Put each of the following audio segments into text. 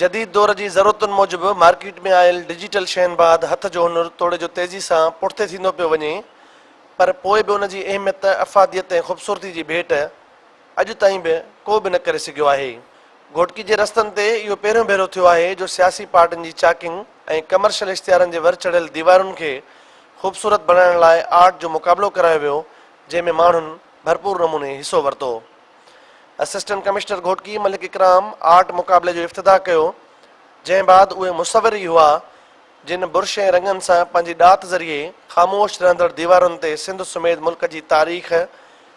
جديد دور جي ضرورتن موجب مارڪيٽ ۾ آيل ڊجيٽل شين بعد هٿ جو هنر توڙي جو تيزي سان پٺتي ٿيندو پيو وڃي پر پوء به ان جي اهميت افاديت ۽ خوبصورتي جي ڀيٽ اڄ تائين به ڪو به نه ڪري سگهيو آهي. گهوٽڪي جي رستن تي اهو پهريون ڀيرو ٿيو آهي جو سياسي پارٽين جي چاڪنگ ۽ ڪمرشل اشتهارن جي ور چڙهيل ديوارن کي خوبصورت بڻائڻ لاء آرٽ جو مقابلو ڪرايو ويو جنهن ۾ ماڻهن ڀرپور نموني حصو ورتو. Assistant commissioner Ghotki Malik Ikram art مقابلي جو افتتاح ڪيو جنهن بعد اهي مصور ئي هئا جن برش ۽ رنگن سان پنهنجي ڏات ذريعي خاموش رهندڙ ديوارن تي سنڌ سميت ملڪ جي تاريخ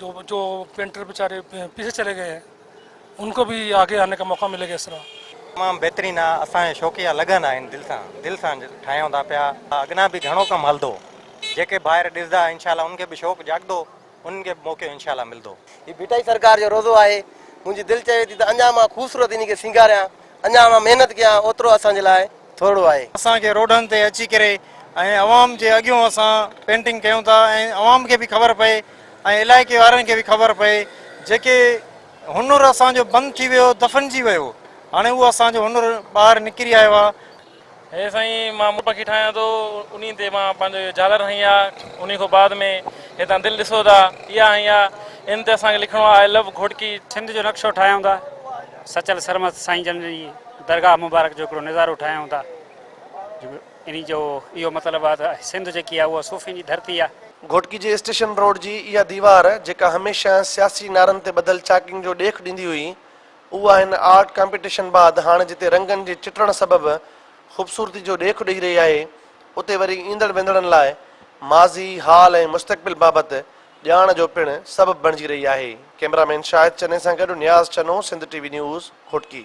جو پينٽر بيچاري پيڇي چلي گئي ان ڪو بي آگي آني ڪا موقع ملي گا اس طرح. تمام بهترين آ اسان جا شوقيا لڳن آهن دل سان دل سان ٺاهيون ٿا پيا اڳنا به گهڻو ڪم هلندو جيڪي ڀائر ڏسدا انشاء الله انهن کي به شوق جاڳدو انهن کي به موقعو انشاء الله ملدو. هي ڀٽائي سرڪار جو روضو آهي منهنجي دل چوي ٿي ته اڃا مان خوبصورت انهي کي سينگاريان. اڃا اوهان محنت ڪيان اوترو اسان جي لاء ٿورڙو آهي. اسان کي روڊن تي اچي ڪري ۽ عوام جي اڳيون اسان پينٽنگ ڪيون ٿا ۽ عوام کي به خبر پئي ۽ علائقي وارن کي به خبر پئي جيڪي هنر اسان جو بند ٿي ويو دفنجي ويو هاڻي اهو اسان جو هنر ٻاهر نڪري آيو آهي. هي سائين مان مون پکي ٺاهيان ٿو انهي تي مان پنهنجو اهو جهالر هنئي آ انهي کان بعد ۾ هيتان دل ڏسو ٿا اها هنئي آ ان تي اسان کي لکڻو آ آء لو گهوٽڪي. سنڌ جو نقشو ٺاهيون ٿا سچل سرمست سائين جن جي درگاهه مبارڪ جو هڪڙو نظارو ٺاهيون ٿا انهي جو اهو مطلب آ ته سنڌ جيڪي آ اها صوفين جي ڌرتي آ. گهوٽڪي جي اسٽيشن روڊ جي اها ديوار جيڪا هميشه سياسي نعرن تي ٻڌل چاڪنگ جو ڏيک ڏيندي هئي، اها هن آرٽ ڪامپيٽيشن بعد هاڻ جتي رنگن جي چٽڻ سبب خوبصورتي جو ڏيک ڏئي رهي آهي اتي وري ايندڙ ويندڙن لاء ماضي، حال ۽ مستقبل بابت ڄاڻ جو پڻ سبب بڻجي رهي آهي. ڪئميرا مين شاهد چني سان گڏ Niaz Channa Sindh T V news Ghotki.